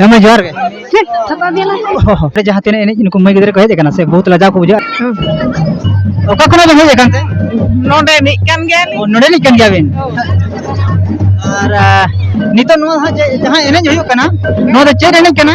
ᱦᱮᱸ ᱡᱚᱦᱟᱨ ᱜᱮ ᱚᱸᱰᱮ ᱡᱟᱦᱟᱸ ᱛᱤᱱᱟᱹᱜ ᱮᱱᱮᱡ ᱱᱩᱠᱩ ᱢᱟᱹᱭ ᱜᱤᱫᱽᱨᱟᱹ ᱠᱚ ᱦᱮᱡ ᱟᱠᱟᱱᱟ ᱥᱮ ᱵᱚᱦᱩᱛ ᱞᱟᱡᱟᱣ ᱠᱚ ᱵᱩᱡᱷᱟᱹᱜᱼᱟ ᱚᱠᱟ ᱠᱷᱚᱱᱟᱜ ᱵᱮᱱ ᱦᱮᱡ ᱟᱠᱟᱱ ᱛᱮ ᱱᱚᱰᱮ ᱮᱱᱮᱡ ᱠᱟᱱ ᱜᱮᱭᱟᱞᱤᱧ ᱚ, ᱱᱚᱰᱮᱱᱤᱡ ᱠᱟᱱ ᱜᱮᱭᱟ ᱵᱤᱱ ᱟᱨ ᱟᱦ, ᱱᱤᱛᱚᱜ ᱱᱚᱣᱟ ᱦᱟᱸᱜ ᱡᱮ- ᱡᱟᱦᱟᱸ ᱮᱱᱮᱡ ᱦᱩᱭᱩᱜ ᱠᱟᱱᱟ ᱱᱚᱣᱟ ᱫᱚ ᱪᱮᱫ ᱮᱱᱮᱡ ᱠᱟᱱᱟ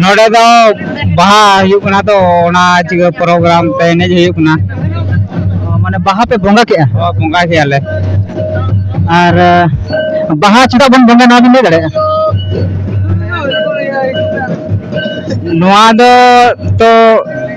ᱱᱚᱸᱰᱮ ᱫᱚ ᱵᱟᱦᱟ ᱦᱩᱭᱩᱜ ᱠᱟᱱᱟ ᱛᱚ ᱚᱱᱟ ᱪᱤᱠᱟᱹ ᱯᱨᱳᱜᱨᱟᱢ ᱛᱮ ᱮᱱᱮᱡ ᱦᱩᱭᱩᱜ ᱠᱟᱱᱟ ᱢᱟᱱᱮ ᱵᱟᱦᱟ ᱯᱮ ᱵᱚᱸᱜᱟ ᱠᱮᱜᱼᱟ ᱵᱚᱸᱜᱟ ᱠᱮᱭᱟᱞᱮ ᱟᱨ ᱵᱟᱦᱟ ᱪᱮᱫᱟᱜ ᱵᱚᱱ ᱵᱚᱸᱜᱟ ᱱᱚᱣᱟ ᱵᱤᱱ ᱞᱟᱹᱭ ᱫᱟᱲᱮᱭᱟᱜᱼᱟ ᱱᱚᱣᱟ ᱫᱚ ᱛᱚ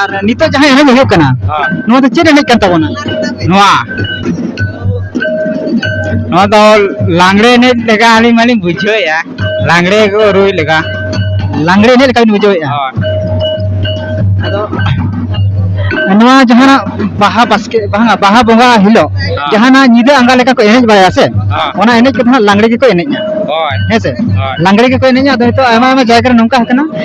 ᱟᱨ ᱱᱤᱛᱚᱜ ᱡᱟᱦᱟᱸ ᱮᱱᱮᱡ ᱦᱩᱭᱩᱜ ᱠᱟᱱᱟ ᱱᱚᱣᱟ ᱫᱚ ᱪᱮᱫ ᱮᱱᱮᱡ ᱠᱟᱱ ᱛᱟᱵᱚᱱᱟ ᱱᱚᱣᱟ ᱱᱚᱣᱟ ᱫᱚ ᱞᱟᱝᱲᱮ ᱮᱱᱮᱡ ᱞᱮᱠᱟ ᱟᱹᱞᱤᱧ ᱢᱟᱞᱤᱧ ᱵᱩᱡᱷᱟᱹᱣᱮᱫᱼᱟ ᱞᱟᱝᱲᱮ ᱠᱚ ᱨᱩᱭ ᱞᱮᱠᱟ ᱞᱟᱝᱲᱮ ᱮᱱᱮᱡ ᱞᱮᱠᱟ ᱵᱤᱱ ᱵᱩᱡᱷᱟᱹᱣᱮᱫᱼᱟ ᱟᱫᱚ ᱱᱚᱣᱟ ᱡᱟᱦᱟᱱᱟᱜ ᱵᱟᱦᱟ ᱵᱟᱥᱠᱮ ᱵᱟᱝᱟ ᱵᱟᱦᱟ ᱵᱚᱸᱜᱟ ᱦᱤᱞᱳᱜ ᱡᱟᱦᱟᱱᱟᱜ ᱧᱤᱫᱟᱹ ᱟᱸᱜᱟ ᱞᱮᱠᱟ ᱠᱚ ᱮᱱᱮᱡ ᱵᱟᱲᱟᱭᱟ ᱥᱮ ᱚᱱᱟ ᱮᱱᱮᱡ ᱠᱚᱫᱚ ᱦᱟᱸᱜ ᱞᱟᱝᱲᱮ ᱜᱮᱠᱚ ᱮᱱᱮᱡᱼᱟ ᱦᱮᱸ ᱥᱮ ᱞᱟᱝᱲᱮ ᱜᱮᱠᱚ ᱮᱱᱮᱡᱼᱟ ᱟᱫᱚ ᱱᱤᱛᱚᱜ ᱟᱭᱢᱟ ᱟᱭᱢᱟ ᱡᱟᱭᱜᱟ ᱨᱮ ᱱᱚᱝᱠᱟ ᱟᱠᱟᱱᱟ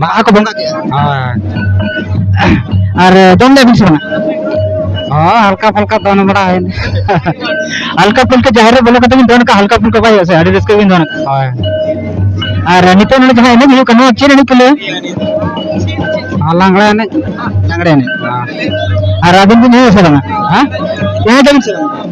ᱵᱟᱦᱟ ᱠᱚ ᱵᱚᱸᱜᱟ ᱠᱮᱫᱼᱟ ᱦᱳᱭ ᱟᱨ ᱫᱚᱝ ᱮᱱᱮᱡ ᱵᱤᱱ ᱥᱮᱱᱟ ᱦᱚᱸ ᱦᱟᱞᱠᱟ ᱯᱷᱟᱞᱠᱟ ᱫᱚᱱ ᱵᱟᱲᱟ ᱦᱩᱭᱱᱟ ᱦᱟᱞᱠᱟ ᱯᱷᱩᱞᱠᱟ ᱡᱟᱦᱮᱨ ᱨᱮ ᱵᱚᱞᱚ ᱠᱟᱛᱮ ᱵᱤᱱ ᱫᱚᱱ ᱠᱟᱜᱼᱟ ᱦᱟᱞᱠᱟ ᱯᱷᱩᱞᱠᱟ ᱵᱟᱭ ᱦᱩᱭᱩᱜᱼᱟ ᱥᱮ ᱟᱹᱰᱤ ᱨᱟᱹᱥᱠᱟᱹ ᱵᱤᱱ ᱫᱚᱱ ᱠᱟᱜᱼᱟ ᱦᱳᱭ ᱟᱨ ᱱᱤᱛᱚᱜ ᱱᱚᱰᱮ ᱡᱟᱦᱟᱸ ᱮᱱᱮᱡ ᱦᱩᱭᱩᱜ ᱠᱟᱱᱟ ᱱᱚᱣᱟ ᱪᱮᱫ ᱮᱱᱮᱡ ᱠᱚ ᱞᱟᱹᱭᱟ ᱦᱚᱸ ᱞᱟᱝᱲᱟ ᱮᱱᱮᱡ ᱞᱟᱜᱽᱲᱮ ᱮᱱᱮᱡ ᱟᱨ ᱟᱹᱵᱤᱱ ᱵᱤᱱ ᱮᱱᱮᱡ ᱥᱮ ᱵᱟᱝᱟ ᱦᱮᱸ ᱮᱱᱮᱡ ᱟᱵᱤᱱ ᱥᱮ ᱵᱟᱝᱟ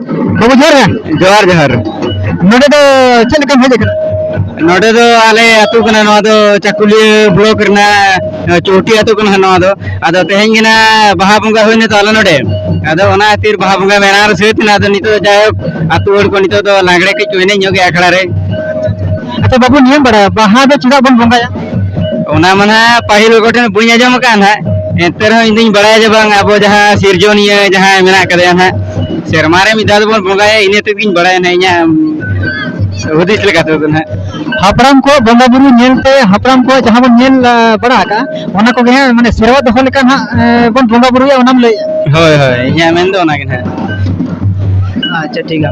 ᱵᱟᱹᱵᱩ ᱡᱚᱦᱟᱨ ᱜᱮ ᱡᱚᱦᱟᱨ ᱡᱚᱦᱟᱨ ᱱᱚᱰᱮ ᱫᱚ ᱪᱮᱫ ᱞᱮᱠᱟᱢ ᱦᱮᱡ ᱟᱠᱟᱱᱟ ᱱᱚᱰᱮ ᱫᱚ ᱟᱞᱮ ᱟᱹᱛᱩ ᱠᱟᱱᱟ ᱱᱚᱣᱟ ᱫᱚ ᱪᱟᱠᱩᱞᱤᱭᱟᱹ ᱵᱞᱚᱠ ᱨᱮᱱᱟᱜ ᱪᱳᱴᱤ ᱟᱹᱛᱩ ᱠᱟᱱᱟ ᱱᱚᱣᱟ ᱫᱚ ᱟᱫᱚ ᱛᱮᱦᱮᱧ ᱜᱮ ᱱᱟᱜ ᱵᱟᱦᱟ ᱵᱚᱸᱜᱟ ᱦᱩᱭᱱᱟ ᱛᱚ ᱟᱞᱮ ᱱᱚᱰᱮ ᱟᱫᱚ ᱚᱱᱟ ᱠᱷᱟᱹᱛᱤᱨ ᱵᱟᱦᱟ ᱵᱚᱸᱜᱟ ᱢᱮᱞᱟ ᱨᱮ ᱥᱟᱹᱛ ᱮᱱᱟ ᱟᱫᱚ ᱱᱤᱛᱚᱜ ᱫᱚ ᱡᱟᱭᱦᱳᱠ ᱟᱹᱛᱩ ᱦᱚᱲ ᱠᱚ ᱱᱤᱛᱚᱜ ᱫᱚ ᱞᱟᱜᱽᱲᱮ ᱠᱟᱹᱡ ᱠᱚ ᱮᱱᱮᱡ ᱧᱚᱜᱮᱜᱼᱟ ᱟᱠᱷᱲᱟ ᱨᱮ ᱟᱪᱪᱷᱟ ᱵᱟᱵᱩ ᱱᱤᱭᱟᱹᱢ ᱵᱟᱲᱟᱭᱟ ᱵᱟᱦᱟ ᱫᱚ ᱪᱮᱫᱟᱜ ᱵᱚᱱ ᱵᱚᱸᱜᱟᱭᱟ ᱚᱱᱟ ᱢᱟᱱᱟ ᱯᱟᱹᱦᱤᱞ ᱠᱚᱴᱷᱮᱱ ᱵᱟᱹᱧ ᱟᱸᱡᱚᱢ ᱟᱠᱟᱫ ᱦᱟᱸᱜ ᱮᱱᱛᱮ ᱨᱮᱦᱚᱸ ᱤᱧ ᱫᱩᱧ ᱵᱟᱲᱟᱭᱟ ᱡᱮ ᱵᱟᱝ ᱟᱵᱚ ᱡᱟᱦᱟᱸ ᱥᱤᱨᱡᱚᱱᱤᱭᱟᱹ ᱡᱟᱦᱟᱸᱭ ᱢᱮᱱᱟᱜ ᱠᱟᱫᱮᱭᱟ ᱦᱟᱸᱜ ᱥᱮᱨᱢᱟ ᱨᱮ ᱢᱤᱫ ᱫᱷᱟᱣ ᱫᱚᱵᱚᱱ ᱵᱚᱸᱜᱟᱭᱟ ᱤᱱᱟᱹ ᱛᱮᱜᱤᱧ ᱵᱟᱲᱟᱭᱟ ᱦᱟᱸᱜ ᱤᱧᱟᱹᱜ ᱦᱩᱫᱤᱥ ᱞᱮᱠᱟ ᱛᱮᱫᱚ ᱦᱟᱸᱜ ᱦᱟᱯᱲᱟᱢ ᱠᱚ ᱵᱚᱸᱜᱟ ᱵᱩᱨᱩ ᱧᱮᱞᱛᱮ ᱦᱟᱯᱲᱟᱢ ᱠᱚ ᱡᱟᱦᱟᱸ ᱵᱚᱱ ᱧᱮᱞ ᱟᱸ, ᱵᱟᱲᱟ ᱟᱠᱟᱜᱼᱟ ᱚᱱᱟ ᱠᱚᱜᱮ ᱦᱟᱸᱜ ᱢᱟᱱᱮ ᱥᱮᱨᱣᱟ ᱫᱚᱦᱚ ᱞᱮᱠᱟᱱ ᱦᱟᱸᱜ ᱟᱸ, ᱵᱚᱱ ᱵᱚᱸᱜᱟ ᱵᱩᱨᱩᱭᱟ ᱚᱱᱟᱢ ᱞᱟᱹᱭᱮᱫᱼᱟ ᱦᱳᱭ ᱦᱳᱭ ᱤᱧᱟᱹᱜ ᱢᱮᱱ ᱫᱚ ᱚᱱᱟᱜᱮ ᱦᱟᱸᱜ ᱟᱪᱪᱷᱟ ᱴᱷᱤᱠ ᱜᱮᱭᱟ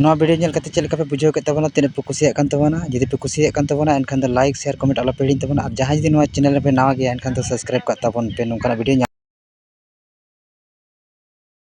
ᱱᱚᱣᱟ ᱵᱷᱤᱰᱭᱳ ᱧᱮᱞ ᱠᱟᱛᱮᱫ ᱪᱮᱫ ᱞᱮᱠᱟ ᱯᱮ ᱵᱩᱡᱷᱟᱹᱣ ᱠᱮᱫ ᱛᱟᱵᱚᱱᱟ ᱛᱤᱱᱟᱹᱜ ᱯᱮ ᱠᱩᱥᱤᱭᱟᱜ ᱠᱟᱱ ᱛᱟᱵᱚᱱᱟ ᱡᱩᱫᱤ ᱯᱮ ᱠᱩᱥᱤᱭᱟᱜ ᱠᱟᱱ ᱛᱟᱵᱚᱱᱟ ᱮᱱᱠᱷᱟᱱ ᱫᱚ ᱞᱟᱭᱤᱠ ᱥᱮᱭᱟᱨ ᱠᱚᱢᱮᱱᱴ ᱟᱞᱚ ᱯᱮ ᱦᱤᱲᱤᱧ ᱛᱟᱵᱚᱱᱟ ᱟᱨ ᱡᱟᱦᱟᱸᱭ ᱡᱩᱫᱤ ᱱᱚᱣᱟ ᱪᱮᱱᱮᱞ ᱨᱮᱯᱮ ᱱᱟᱣᱟ ᱜᱮᱭᱟ ᱮᱱᱠᱷᱟᱱ ᱫᱚ ᱥᱟᱵᱥᱠᱨᱟᱭᱤᱵᱽ ᱠᱟᱜ ᱛᱟᱵᱚᱱ ᱯᱮ ᱱᱚᱝᱠᱟᱱᱟᱜ ᱵᱷᱤᱰᱭᱳ ᱧᱟᱢ